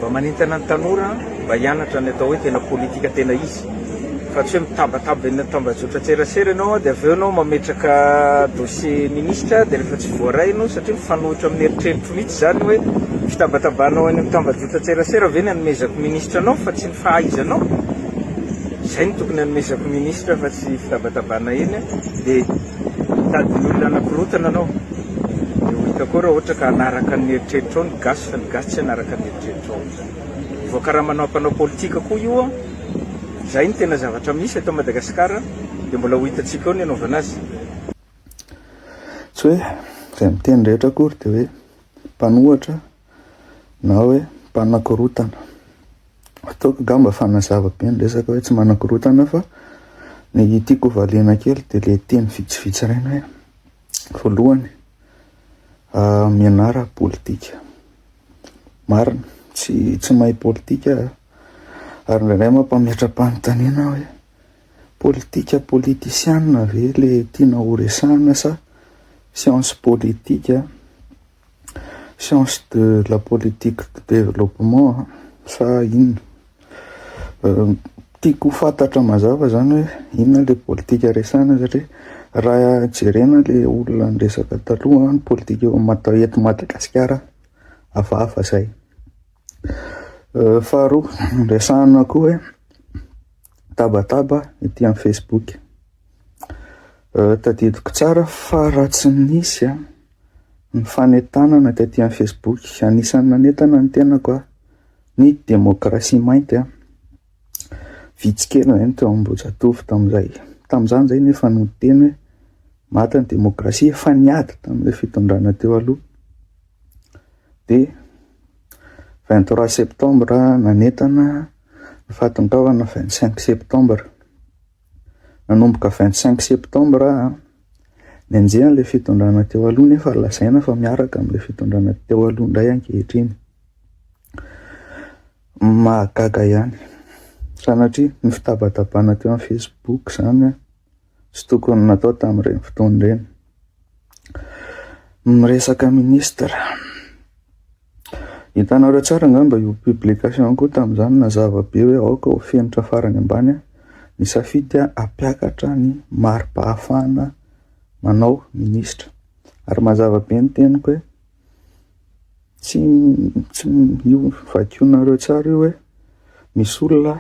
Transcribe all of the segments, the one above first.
Mba manentana ny tanora mba hianatra ny atao hoe tena politika tena izy fa tsy hoe mitabataba eny amin'ny tambajotran-tserasera ianao dia avy eo ianao mametraka dossier ministra dia rehefa tsy voaray ianao satria mifanohitra amin'ny eritreritro mihitsy izany hoe fitabatabanao eny amin'ny tambajotran-tserasera ve ny anomezako ministra anao fa tsy ny fahaizanao izay no tokony anomezako ministra fa tsy fitabatabana eny dia Mitady ny olona hanakorotana anao dia ho hita koa raha ohatra ka hanaraka ny eritreritrao ny gasy fa ny gasy tsy hanaraka ny eritreritrao amin'izany. Voakaramanao hampanao politika koa io an! Izay no tena zavatra misy eto Madagasikara dia mbola ho hitantsika eo ny hanaovana azy. Tsy hoe izay miteny rehetra akory dia hoe mpanohatra. na hoe mpanakorotana. Ataoko angamba fa nazava be ny resaka hoe tsy manakorotana fa ny tiako ho variana kely dia ilay teny vitsivitsy iray hoe voalohany ah, mianara politika. Marina, tsy tsy mahay politika ah. ary indraindray mampametra-panontaniana hoe politika politisiana ve le tiana horesahana sa science politika? Science de la politique du développement sa inona? Tiako ho fantatra mazava zany hoe inona le politika resahana satria raha jerena le olona niresaka taloha, ny politika eo am- eto Madagasikara hafahafa zay. Faharoa resahana koa hoe tabataba ety amin'ny facebook. Tadidiko tsara fa raha tsy nisy ny fanentanana taty amin'ny Facebook, anisan'ny nanentana ny tenako aho, ny demokrasia mainty vitsy kely izay no teo Ambohijatovo tamin'izay. Tamin'izany izay nefa no niteny hoe maty ny demokrasia fa niady tamin'ilay fitondrana teo aloha. Dia vingt trois septembre nanentana ny fahatongavana vingt cinq septembre. Nanomboka vingt cinq septembre aho. Nianjera an'ilay fitondrana teo aloha nefa lazaina fa miaraka amin'ilay fitondrana teo aloha indray ankehitriny. Mahagaga ihany. Sanatria ny fitabatabana teo amin'ny Facebook izany tsy tokony natao tamin'ireny fotoana ireny. Miresaka minisitra. Hitanareo tsara angamba io publication ko tamin'izany nazava be hoe aoka ho fenitra farany ambany ny safidy hampiakatra ny mari-pahafahana manao minisitra. Ary mazava be ny teniko hoe tsy tsy io vakionareo tsara io hoe misy olona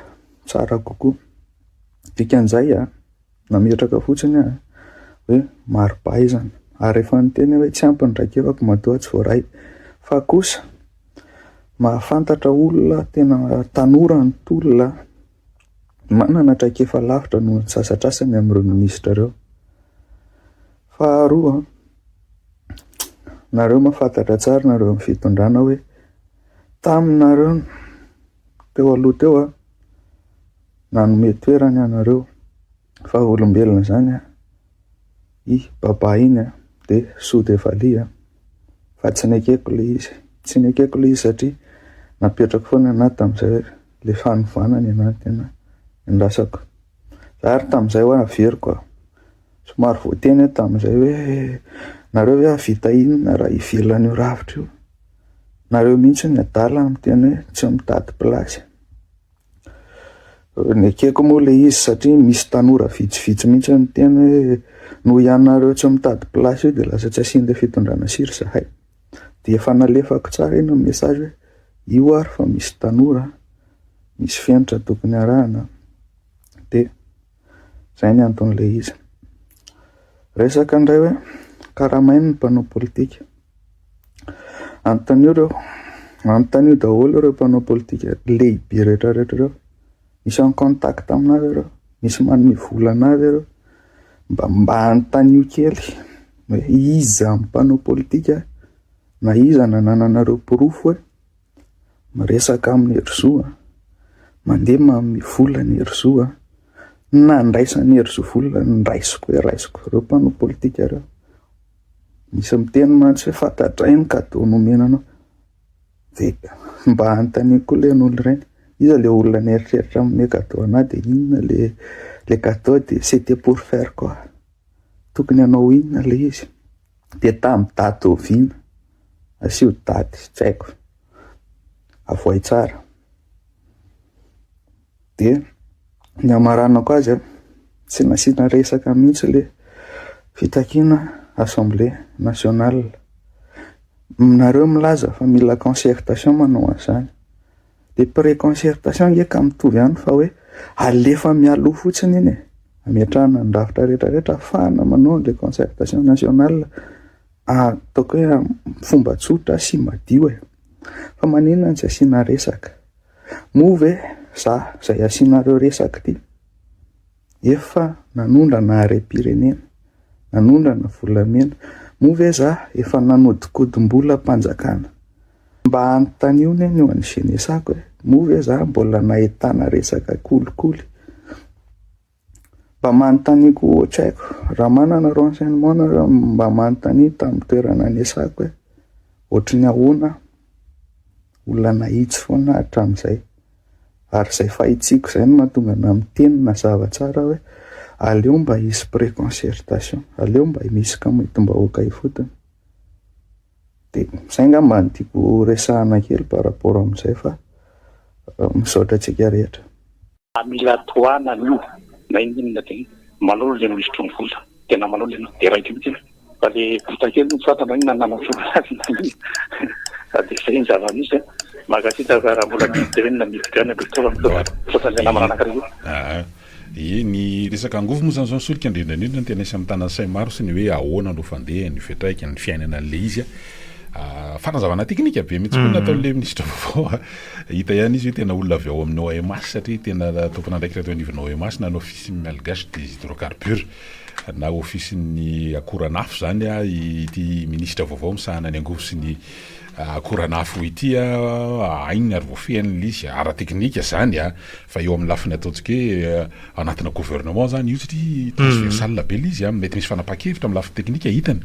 tsara kokoa. Dikan'izay a! Nametraka fotsiny aho hoe mari-pahaizana ary rehefa niteny aho hoe tsy ampy ny traikefako matoa tsy voaray. Fa kosa mahafantatra olona tena tanora ny tolona manana traikefa lavitra noho ny sasatrasany amin'ireo minisitra ireo. Faharoa, nareo mahafantatra tsara nareo amin'ny fitondrana hoe taminareo teo aloha teo aho, Nanome toerany anareo fa ho olombelona zany a i Baba iny a de soa de valiha a fa tsy nekeko le izy tsy nekeko le izy satria napetrako foana anah tamzay le fanovana ny anah tena niandrasako za ary tamzay hoe averiko a somary voateny aho tamzay hoe nareo ve ahavita inona raha ivelany io rafitra io nareo mihintsy ny adala miteny hoe tsy mitady place Nekeko moa ilay izy satria misy tanora vitsivitsy mihitsy niteny hoe noho ianareo tsy mitady place io dia lasa tsy asian'ilay fitondrana sira izahay. Dia efa nalefako tsara iny ny message hoe io ary fa misy tanora, misy fenitra tokony arahana dia. Izay ny anton'ilay izy. Resaka indray hoe karamaina ny mpanao politika. Anontanio ireo, anontanio daholo ireo mpanao politika lehibe rehetra rehetra ireo. Misy en contact amin'azy ireo, misy manome vola an'azy ireo. Mba mba anontanio kely hoe iza mpanao politika na iza nanananareo porofo hoe Miresaka amin'i Herizo a! Mandeha manome vola an'i Herizo a! Nandraisan'i Herizo vola, raisiko hoe raisiko ireo mpanao politika ireo. Misy miteny mantsy hoe fantatray ny cadeau nomena anao. Dia mba anontaniako koa ilay an'olona ireny, iza ilay olona nieritreritra hanome cadeau anà dia inona ilay ilay cadeau dia c'était pour faire quoi? Tokony hanao inona ilay izy? Dia tamin'ny daty oviana? Asio daty, tsy haiko. Avohay tsara. Dia ny hamaranako azy an, tsy nasiana resaka mihitsy ilay fitakiana assemblée nationale. Nareo milaza fa mila concertation manao an'izany. Ilay pré-concertation ange ka mitovy ihany fa hoe alefa mialoha fotsiny iny e! Ametrahana ny rafitra rehetra rehetra ahafahana manao an'ilay concertation nationale ataoko hoe amin'ny fomba tsotra sy madio e! Fa maninona no tsy asiana resaka? Moa ve za izay asianareo resaka ity? Efa nanondrana harem-pirenena, nanondrana volamena, moa ve za efa nanodinkodim-bolam-panjakana? Mba anontanio anie ny eo an'ny Jeunesse-ko e, moa ve za mbola nahitana resaka kolikoly? Mba manontanio koa ohatra aiko, raha manana renseignement nareo mba manontanio tamin'ny toerana anesako hoe ohatry ny ahoana aho? Olona nahitsy foana aho hatramin'izay, Ary izay fahitsiako izay no mahatonga anà miteny mazava tsara hoe aleo mba hisy pré-concertation, aleo mba misy kamitim-bahoaka ifotony. Dia izay angamba no tiako horesahana kely par rapport amin'izay fa misaotra antsika rehetra. Fa mila tohanana io na inona na inona dia manao ilay minisitry ny vola, tena manao ilay ianao dia raikitra mihitsy aloha. Fa le vita kely no fantany hoe nanamafy azy na inona de zay ny zava-misy a. Mankasitraka raha mbola misy de hoe niditra ihany akory teo amin'izao fotoana le namana anankiray io. Aa ie ny resaka angovo moa zany zao solika indrindraindrindra no tena isan'ny mitana sahy maro sy ny hoe ahoana no fandeha ny fiatraikany ny fiainana an'le izy a. Aa fanazavana teknika be mintsy koa nataon'le minisitra vaovao a. Hita ihany izy hoe tena olona avy ao amin'ny OMH satria tena tompon'andraikitra teo anivon'ny OMH na ny office malgache des hydrocarbures. na ofisin'ny akoranafo izany ity minisitra vaovao misahana ny angovo sy ny akoranafo ity ahaino ary voafehin'ilay izy ara-teknika izany fa eo amin'ny lafiny ataontsika hoe anatina gouvernement izany io satria transversal be ilay izy mety misy fanapahan-kevitra amin'ny lafiny teknika hitany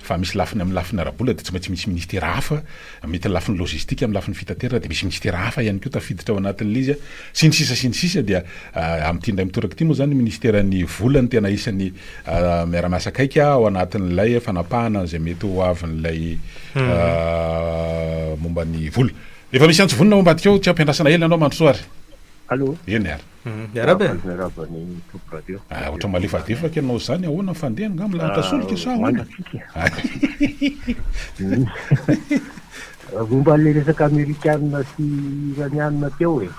fa misy lafiny amin'ny lafiny ara-bola dia tsy maintsy misy ministera hafa mety ny lafiny lojistika amin'ny lafiny fitaterana dia misy minisitera hafa ihany koa tafiditra ao anatin'ilay izy sy ny sisa sy ny sisa dia amin'ity indray mitoraka ity moa izany ny minisiteran'ny vola no tena isan'ny miara-miasa akaiky ao anatin'ilay fanapahana an'izay mety ho avin'ilay momba ny vola efa misy antso vonona ao ambadika ao tsy ampiandrasana ela ianao Mandrosoa ary eny ary Mhm, miaraba e. Miaraba ny Top Radio. Ah, ohatra malefadefaka ianao izany, ahoana ny fandehany nga milanitra ah, solika sa ahoana? Momba le resaka amerikanina sy iranianina teo e.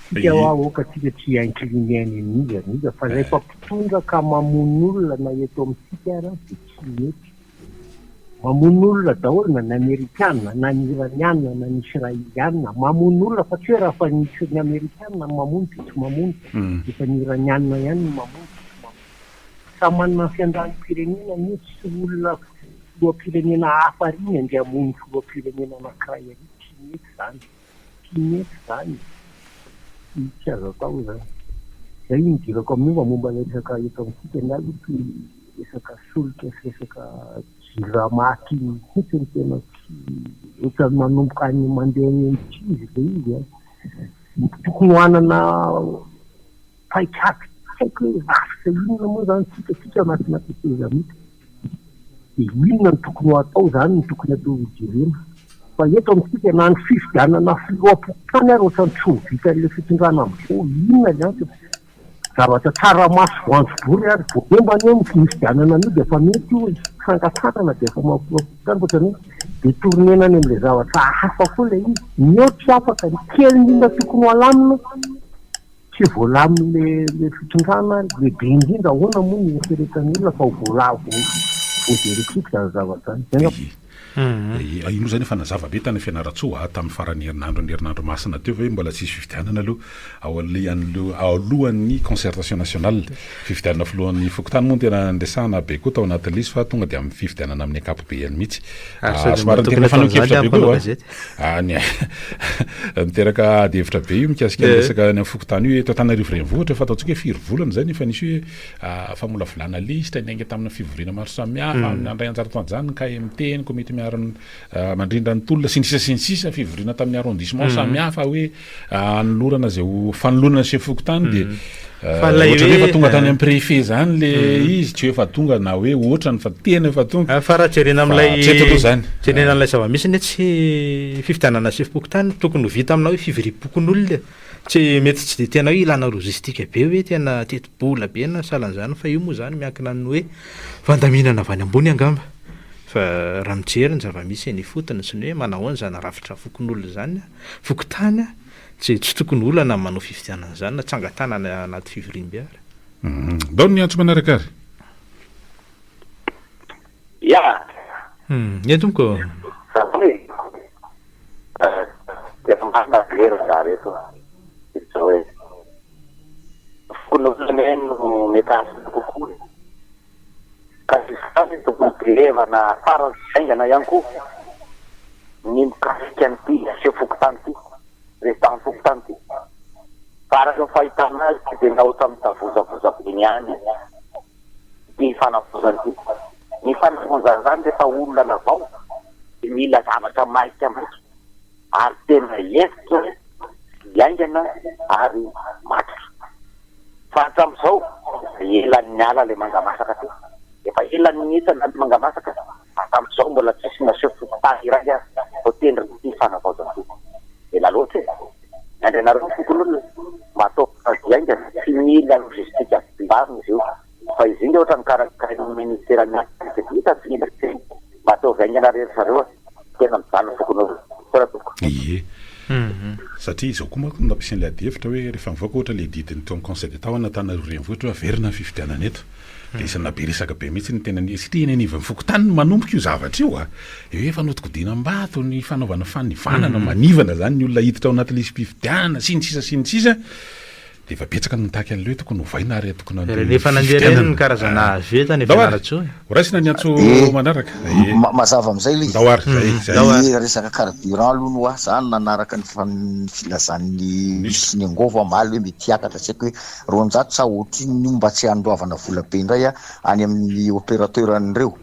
Tsika hoa aoka tsika tsy incliné any amin'iza n'iza fa rehefa eh. mpitondra ka mamono olona na eto amintsika ara dia tsy mety. Mamono olona daholo na ny amerikana na ny iraniana na ny israeliana mamono olona fa tsy hoe raha fa nisy ny amerikana ny mamono dia tsy mamono efa ny iraniana ihany ny mamono dia tsy mamono samy manana ny fiandranimpirenenany io tsy olona filohampirenena hafa ary ny andeha hamono filohampirenena anakiray ary tsy mety izany Tsy mety izany, tsy azo atao izany. Izay no idirako amin'ny momba momba ilay resaka eto amintsika ny ahy tsy resaka solika sy resaka jirama aty mihitsy no tena tsy ohatran'ny manomboka any mandeha any amin'ny kibo ilay izy an! Tokony ho hanana paikady tsy haiko hoe rafitra inona moa izany isika isika anatina tetezamita dia inona no tokony ho atao izany no tokony atao ho jerena fa eto amintsika na ny fifidianana filoham-pokontany ary ohatrany tsy ho vitan'ilay fitondrana amin'izao inona ny antony zavatra tsara maso voanjobory ary voaomba ny eo ny fifidianana anio dia efa mety io fangatahana dia efa mahafiloham-pokontany ohatrany hoe dia tournena any amin'ilay zavatra hafa koa ilay izy ny eo tsy afaka ny kely indrindra tokony ho alamina Tsy voalamin'ilay ilay fitondrana lehibe indrindra, ahoana moa no hieritreretan'ny olona fa ho voala vo voajery tsiky izany zavatra izany? Izay angamba. Ye, ye, io moa izany efa nazava be tany Fianarantsoa a, tamin'ny faran'ny herinandron'ny herinandro masina teo ve mbola tsy hisy fifidianana aloha ao alehan'ireo alohan'ny concertation nationale. Fifidianana filohan'ny fokontany moa no tena niresahana be koa tao anatin'ilay izy fa tonga dia amin'ny fifidianana amin'ny ankapobeany mihitsy. Ary sady manatokana tamin'izany aho mpanao gazety. Any ah, miteraka ady hevitra be io mikasika ny eh. resaka any amin'ny fokontany io eto Antananarivo renivohitra fa ataontsika hoe firy volana izay nefa nisy hoe ah, famolavolana lisitra niainga tamina fivoriana maro samihafa hmm. amin'ny andray anjara tanjany ny KMT ny komity miarin'ny ah, mandrindra ny tolona sy ny sisa sy ny sisa fivoriana tamin'ny arrondissement hmm. samihafa hoe anolorana izay ho fanolorana ny chef fokontany dia hmm. eh, ohatra hoe efa tonga tany eh. amin'ny préfet zany le hmm. izy tsy efa tonga na hoe ohatra ny fa tena efa tonga ah, fa raha jerena amin'ilay zany jerena an'ilay zava-misy ny tsy fifidianana chef fokontany tokony ho vita aminao hoe fiviriam-pokon'olona tsy mety tsy de tena hoe ilana logistika be hoe tena tetibola be na salan'izany fa io moa zany miankina ny hoe fandaminana avy any ambony angamba fa raha mijery ny zava-misy eny ifotony sy ny hoe manao ahoana izany rafitra fokon'olona izany Fokontany tsy tsy tokony olana ny manao fifidianana izany na tsangan-tanana anaty fivoriambe ary. Ndao ny antso manaraka ary. Ya. Ye tompoko. Satria efa marina very ny raha reto a. Izao e. Fokonolona anie no mety hahasolo kokoa e. Ka izany no hojerevana farany sy haingana ihany koa ny mikasika an'ity seho fokontany ity, rehefa fokontany ity. Fa araka ny fahitana azy tsy dia naoty amin'ny tavozavoza be ny any ity fanavozana ity. Ny fanavozana izany rehefa olona anavao dia mila zavatra maika maika. ary tena hentitra sy haingana ary matotra fa hatramin'izao efa ela niala ilay mangamasaka teo, efa ela nihitsa ny mangamasaka hatramin'izao mbola tsisy naseho fokontany iray aza voatendrin'ity fanavaozan-doha ela loatra e! miandry anareo ny fokonolona mba hataovy kaozy haingana sy mila logistika tsimbavina izy io. Fa izy inge otrany karakarain'ny ministera ny asa de vita tsy mila teny mba ataovy haingana re ry zareo a! Tena mijaly ny fokonolona. Misaotra tompoko. Ie. Satria izao koa manko no nampiasian'ilay adihevitra hoe rehefa mivoaka ohatra ilay didin'ny teo amin'ny conseil d'Etat ao Anantananarivo Renivohitra hoe averina ny fifidianana eto dia isan'ny nahabe resaka be mihitsy ny teny anivon'ny satria eny anivon'ny fokontany no manomboka io zavatra io a! Eo efa nodikodina am-bato ny fanaovana fanivanana manivana izany ny olona hiditra ao anaty lisi-pifidianana sy ny sisa sy ny sisa Dia efa betsaka ny mitaky an'ilay hoe tokony hovaina ary tokony handeha amin'ny fifidianana. Rehefa nandeha ireny ny karazana azo eto any Fianarantsoa e. Ho raisina ny antso manaraka. Mazava amin'izay ilay izy. Ilay resaka carburant aloha no ahy, za nanaraka ny filazan'ny Nus sy ny Angovo aho omaly hoe mety hiakatra tsy haiko hoe roanjato sa ohatrinona io mba tsy handoavana vola be indray any amin'ny opérateur an'ireo.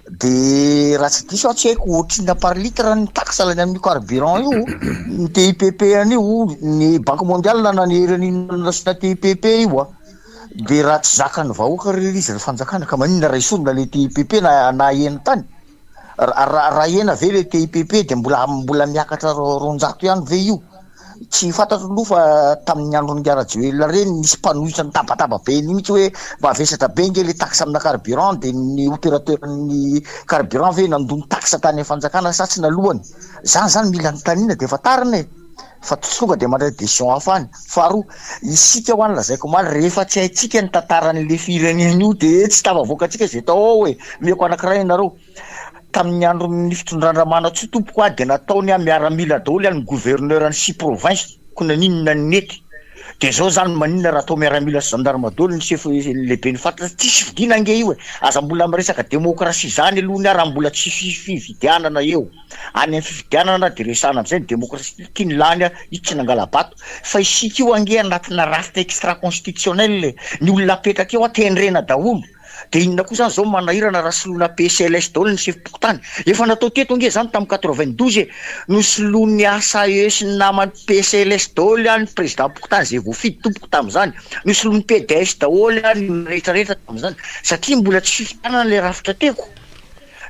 Dia raha tsy diso aho tsy haiko otrina par litre ny taxe lany amin'io carburant io ny TIPP an'io ny banque mondiale nanery an'io resaka TIPP io a dia raha tsy zakan'ny vahoaka ry izy ry fanjakana ka maninona raha esorina le TIPP na na ahena tany raha raha ahena ve le TIPP dia mbola mbola miakatra roanjato ihany ve io Tsy fantatro aloha fa tamin'ny andron'i Ngarajoelina ireny nisy mpanohitra nitabataba be an'io mihitsy hoe mba vesatra be nge le taxe amina carburant dia ny opérateur-n'ny carburant ve nandoa ny taxe tany amin'ny fanjakana sa tsy nalohany. Izany izany mila anontaniana dia efa tarina e! fa tsy tonga dia mandray décision hafa any. Faharoa, isika ho'a ny lazaiko omaly rehefa tsy haintsika ny tantaran'le firenena io dia tsy tafavoaka antsika izay tao ao e! Omeko anankiray ianareo, Tamin'ny andron'ny fitondran-dRamanantsoa tompoko aho dia nataony miaramila daholo ny gouverneur ny six provinces ko naninona ny nety dia zao zany maninona raha atao miaramila sy gendarme daholo ny chef lehiben'ny faritra tsisy fidina ange io e aza mbola miresaka demokrasia zany aloha ny ahy raha mbola tsy hisy fifidianana eo any amin'ny fifidianana dia resahana amizay ny demokrasia ty ny lany aho io tsy nangala-bato fa isika io ange anatina rafitra extra constitutionnel e ny olona apetraka eo aho tendrena daholo Dia inona koa izany izao manahirana raha soloina PCLS daholo ny sefom-pokontany? Efa natao teto ange izany tamin'ny quatre-vingt-douze e! Nosoloin'ny HAE sy ny namany PCLS daholo ihany ny prezidam-pokontany izay voafidy tompoko tamin'izany. Nosoloin'ny PDS daholo ihany ny olona rehetra rehetra tamin'izany satria mbola tsy fifidianana ilay rafitra teko.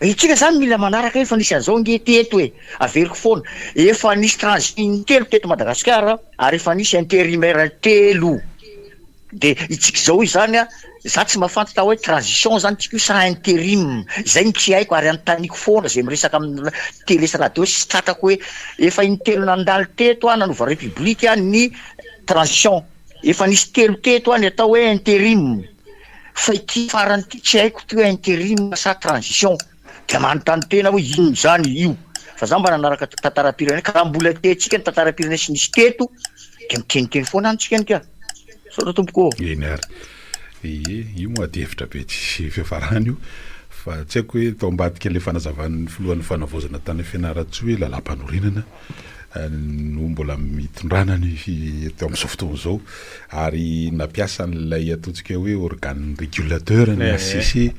Isika izany mila manaraka efa nisy an'izao ange teto e! Averiko foana. Efa nisy transition intelo teto Madagasikara ary efa nisy intérimaire intelo. De itsika izao izany a, za tsy mafantatra hoe transition zany itsika io sa interim, izay no tsy haiko ary anontaniko foana izay miresaka amin'ny tele sy radio sy tratrako hoe efa intelo nandalo teto a nanova république a ny transition, efa nisy telo teto a ny atao hoe interim, fa ity farany ity tsy haiko ity hoe interim sa transition. Dia manontany tena hoe inona izany io? Fa za mba nanaraka tantaram-pirenena ka raha mbola tiantsika ny tantaram-pirenena sy nisy teto dia miteniteny foana any tsika nika. Misaotra tompoko ô. Eny ary. Ie, io moa adihevitra be tsy fiafarany io. Fa tsy haiko hoe tao ambadika ilay fanazavan'ny filohan'ny fanavaozana tany Fianarantsoa hoe lalam-panorenana no mbola mitondrana ny eto amin'izao fotoana izao ary nampiasa an'ilay ataontsika hoe organe régulateur ny HCC eh, eh.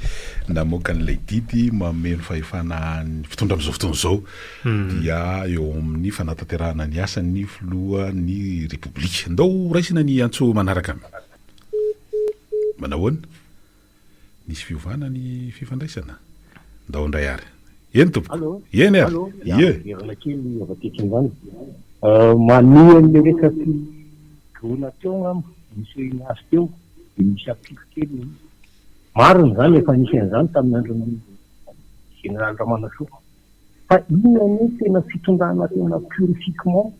namoaka an'ilay didy mameno fahefana ny fitondra amin'izao fotoana izao hmm. dia eo amin'ny fanatanterahana ny asan'ny filohan'ny repoblika. Ndao raisina ny antso manaraka. Manahoana? Nisy fiovana ny fifandraisana? Ndao ndray ary. Eny tompoko. Allo. Eny ary. Allo. Ya, Ie. miverina kely avy aty an-kinzana. Manohy an'ilay resaky drona teo angamba, nisehoana azy teo, dia misy apiko kely ilay izy. Marina izany, efa nisy an'izany tamin'ny andron'ny Général Ramanasoa. Fa inona anie tena fitondrana tena purifiquement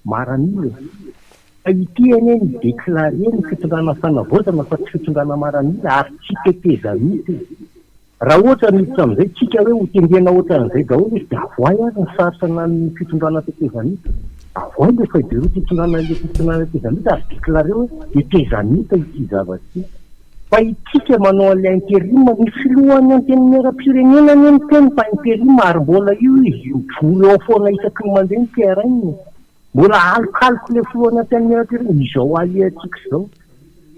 maranilo e? Fa ity anie ni declarer ny fitondrana fanavaozana fa tsy fitondrana maranila ary tsy tetezamita e! Raha ohatra miditra amin'izay tsika hoe ho tendrena ohatran'izay daholo izy dia avoay ary ny sary sanan'ny fitondrana tetezamita. Avoay ilay feuille de route itondrana ilay fitondrana tetezamita ary declarer hoe tetezamita ity zavatra ity. Fa isika manao an'ilay interim, ny filohan'ny antenimieram-pirenena anie miteny fa interim ary mbola io izy mivory ao foana isaky ny mandeha ny terrain. Mbola alokaloky ilay filohan'ny antenimieram-pirenena izao ahiantsika izao.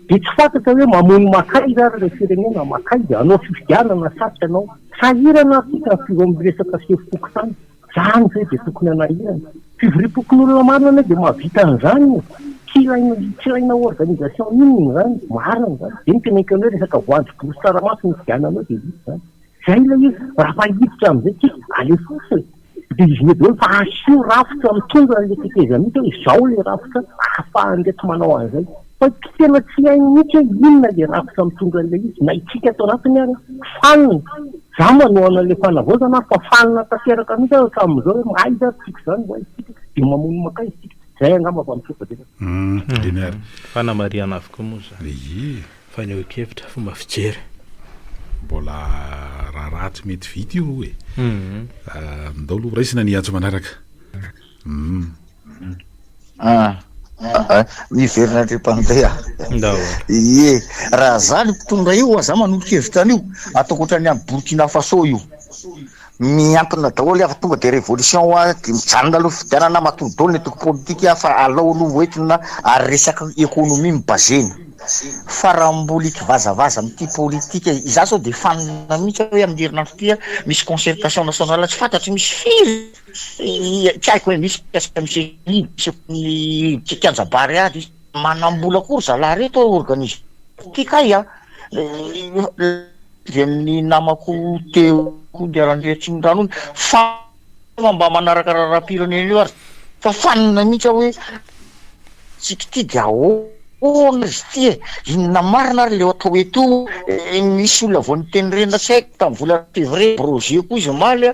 Dia tsy fantatra hoe mamono makaiza ary ilay firenena, makaiza? Hanao fifidianana sa tsy hanao? Sahirana ary isika ny filoha miresaka sefom-pokontany. Zany ve dia tokony hanahirana? Fivoriam-pokonolona marina anie dia mahavita an'izany e! Tsy ilaina tsy ilaina organisation inona izany, marina izany. Dia ny tena ekenao hoe resaka voanjo, borosy, tsaramaso no hifidiananao dia vita izany. Izay ilay izy, raha fa hiditra amin'izay tsika, alefaso e! Dia izy daholo fa asio rafitra mitondra an'ilay tetezamita hoe izao ilay rafitra ahafahan'ireto manao an'izay. Saingy tena tsy hay mihitsy hoe inona ilay rafitra mitondra an'ilay izy, na isika ato anatiny ary fanina, za manohana an'ilay fanavaozana ary fa fanina tanteraka mihitsy aho hatramin'izao hoe mahaiza ary tsika izany ho aiza isika, dia mamono makaiza isika, izay angamba fa mitroka betsaka. Hum. Fanamarihana avokoa moa izany fanehoan-kevitra, fomba fijery. Mbola raharaha tsy mety vita io e. Ndao aloha raisina ny antso manaraka. Uhm. Ah. Ah, miverina andreo mpandeha ye raha za ny mpitondra io aza manolo-kevitra an'io ataoko ohatran'ny any Burkina Faso io miankina daholo afa tonga de révolution a de mijanona aloha fifidianana matoa daholo ny antoko politika fa alao aloha hoentina ary resaka économie mibazena fa raha mbola ikivazavaza amin'ity politika iza sao de fanina mihitsy hoe amin'ny herinandro ity misy concertation nationale tsy fantatro misy firy Tsy haiko hoe misy mikasika ny CCI, misy ny tsy kianja Bary ady. Manambola koa ry zalahy reto hoe organisme ity kay a! avy amin'ny namako teo Andiaraniriatsimodrano iny, fanina fa mba manaraka raharaham-pirenena io ary fa fanina mihitsy aho hoe antsika ity dia ahoana izy ity e! inona marina ary ilay atao eto io e! nisy olona vao niteny reny tsy haiko tamin'ny volana février, Brogé koa izy omaly a!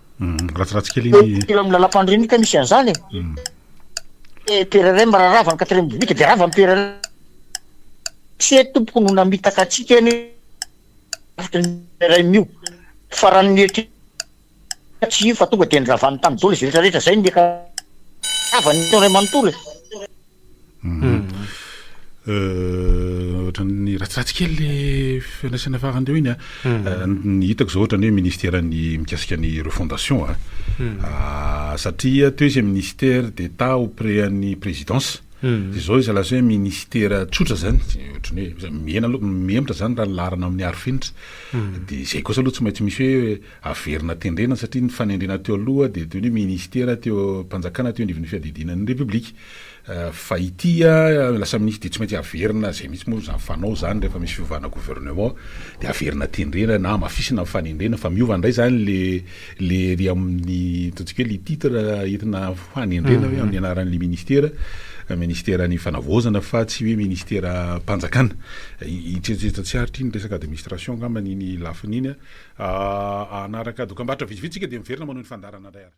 Mhm, ratsiratsy kely iny. Eo amin'ny lalam-pandriamin'ny ka misy an'izany e. Mhm. Eh, PRRM raha rava ny quatrième biblique dia rava ny PRRM. Tsy hoe tompoko no namitaka antsika anie rafitra ny PRRM io. Fa raha ny mieritreritra tsy io fa tonga dia ny ravany tamin'ny dolo izy rehetra rehetra. Izay no miaka rava ny Ntaolo ray manontolo e. Ohatran'ny ratsiratsy kely le fandraisana farany teo iny a. Ny hitako zao ohatran'ny hoe ministera ny mikasika ny refondation a. Satria teo izy ministère d'Etat auprès an'ny présidence. De zao izy lasa hoe ministera tsotra zany, ohatran'ny hoe mihena aloha, mihemotra zany raha ny laharana amin'ny arofenitra. De zay kosa aloha tsy maintsy misy hoe. Averina tendrena satria ny fanendrena teo aloha dia toy ny hoe minisitera teo am-panjakana teo anivon'ny fiadidiana ny Repoblika. Fa ity lasa minisitra dia tsy maintsy averina, izay mihitsy moa izany fanao izany rehefa misy fiovana gouvernement dia averina tendrena na hamafisina ny fanendrena fa miova indray izany ilay ery amin'ny ataontsika hoe ilay titre entina hanendrena hoe amin'ny anaran'ilay minisitera, minisiteran'ny fanavaozana fa tsy hoe minisiteram-panjakana. Tsy atsy atsiaritra iny resaka administration angambany iny lafiny iny. Hanaraka dokam-barotra vitsivitsy isika dia miverina manohy ny fandaharana indray ary.